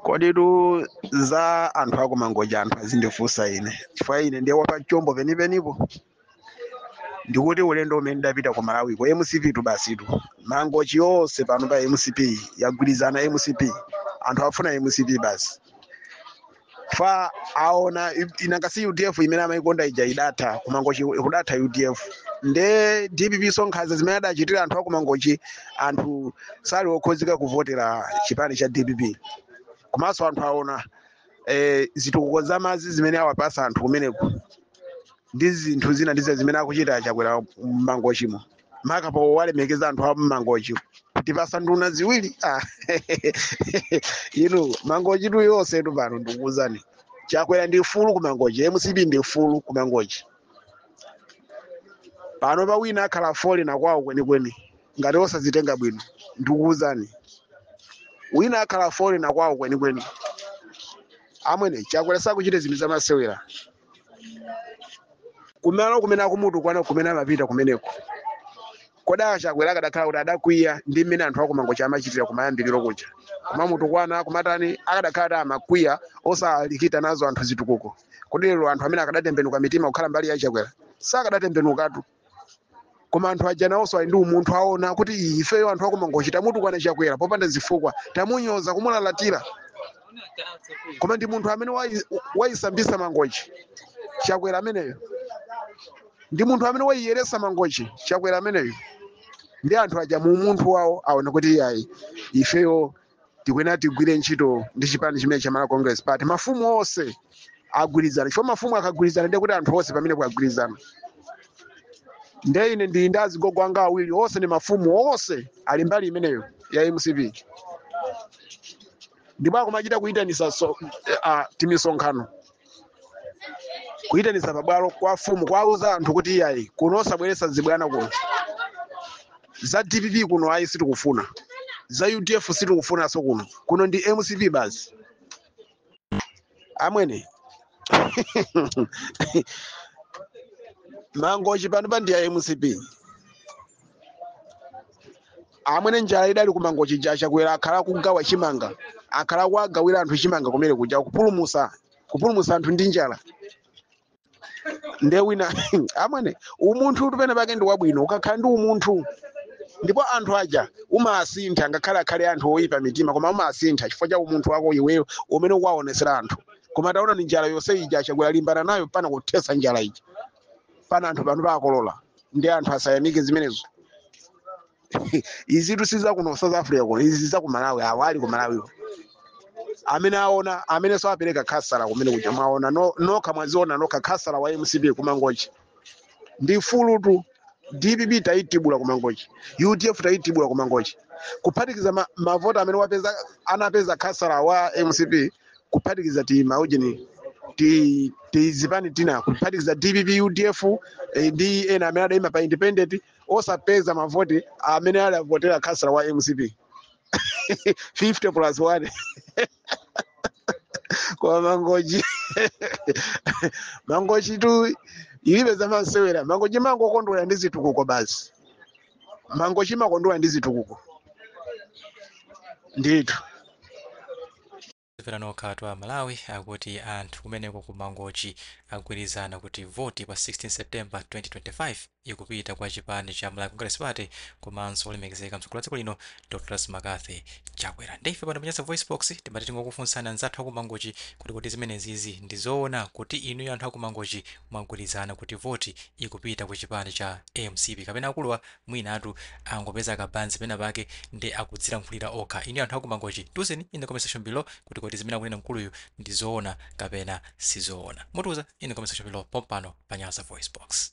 koditu za anthu akumangochi anthu azindifunsa ine chifukwa ine ndiye wapatchombo penipenipo ndikuti ulendo umene ndapita ku malawiko mcp tu basitu mangochi yonse pano pa mcp yagwirizana mcp anthu afuna mcp basi fa aona ina ngati udf imene amaikonda ija idatha kumangochi kudatha udf nde dpp zankhanza zimene adachitira anthu akumangochi anthu sali okonzeka kuvotera chipani cha dpp komanso anthu aona eh, zitukuko za madzi zimene awapasa anthu kumeneko ndi zinthu zina ndi zina zimene akuchita chakwera mmangochimo makaponso walemekeza anthu a mmangochi kutipasa nduna ziwiri ah, inu mangochitu yonsetu pano ndikuwuzani chakwera ndi fulu kumangochi mcp ndi fulu kumangochi panopa wina akhala foli na kwawo kwenikweni ngati osazitenga bwino ndikuwuzani wina akhala foli na kwawo kwenikweni amwene chakwera sakuchita zinthu zamasewera kumalo kumene akumutukwana kumene amapita kumeneko kodi achakwera akadakhala kuti adakwiya ndi mmene anthu akumangochi amachitira kumayambiriro kuja kumamutukwana kumatani akadakhala kuti amakwiya osawalikita nazo anthu zitukuko kodi lero anthu amene akadatembenuka mitima kukhala mbali ya chakwera sakadatembenukatu koma anthu aja nawonso ali ndi umunthu aona kuti Ii, ifeyo anthu akumangochi tamutukwana chakwera popanda zifukwa tamunyoza kumulalatira koma ndi munthu amene wayisambisa mangochi chakwera ameneyo ndi munthu amene wayiyeresa mangochi chakwera ameneyo ndi anthu aja mu umunthu wawo aona kuti iyayi ifeyo tikuyenera tigwire ntchito ndi chipani chimene cha Malawi Congress Party mafumu onse agwirizana chifukwa mafumu akagwirizana ndiye kuti anthu onse pamene pagwirizana nde ine ndili ndi azigogo anga awiri onse ndi mafumu onse ali mbali imeneyo ya mcp ndipo akumachita kuyitanisa timisonkhano kuyitanitsa pabwalo kwa mfumu kuwauza anthu kuti iyayi kuno osabweretsa zibwana kuno za dpp kuno ayi sitikufuna za udf sitikufunanso kuno kuno ndi mcp basi amwene mangochi pano pa ndi ya mcp amwene njala idali kumangochi ija chakwera akhala akugawa chimanga akhala akuwagawira anthu chimanga kumene kuja kupulumusa kupulumusa anthu ndi njala nde wina amwene umunthu tu pena pake ndi wabwino ukakhala ndi umunthu ndipo anthu aja umaasintha ngakhale akhale anthu oyipa mitima koma umaasintha chifukwa cha umunthu wako iweyo umene ukuwaonesera anthu koma taonani njala yonse ija chakwera walimbana nayo mpaka kuthesa njala ija pana anthu pano pakolola ndi anthu asayamike zimenezo izitu si za kuno south africa kuno izi za ku malawi awo ali ku malawi amene aona amenenso apereka khasala kumene kuja mwaona no- nokha mwaziona nokha khasala wa mcp ku mangochi ndi fulutu dpp tayitibula ku mangochi udf tayitibula ku mangochi kuphatikiza ma- mavoti amene wapeza anapeza khasala wa mcp kuphatikiza timaujeni tizipani tina kuphatikiza dpp udf eh, ndi ena amene adaima pa independent osapeza mavoti amene adavotera khasala wa mcp 50 plus 1 ku mangochi mangochitu ilibe zamasewera mangochi imangokondwera ndi zitukuko basi mangochi imakondwera ndi zitukuko ndithu pano katu a malawi akuti anthu kumeneko ku mangochi agwirizana kuti voti pa 16 september 2025 ikupita kwa chipani cha malawi congress party komanso olemekezeka mtsogoleri wa dziko lino dr mccarthy chakwera nde ife pano pa nyasa voice box timati tingokufunsani anzathu a ku mangochi kuti kodi zimenezizi ndi zoona kuti inuyo anthu a ku mangochi mwagwirizana kuti voti ikupita ku chipani cha mcp kapena akuluwa mwinatu angopeza kabanzi pena pake nde akudziyankhulira okha inuyo anthu a ku mangochi tiuzeni in the comment section below kuti kodi zimene akunena mkuluyu ndi zoona kapena sizoona mutiuze in the comment section below pompano pa nyasa voice box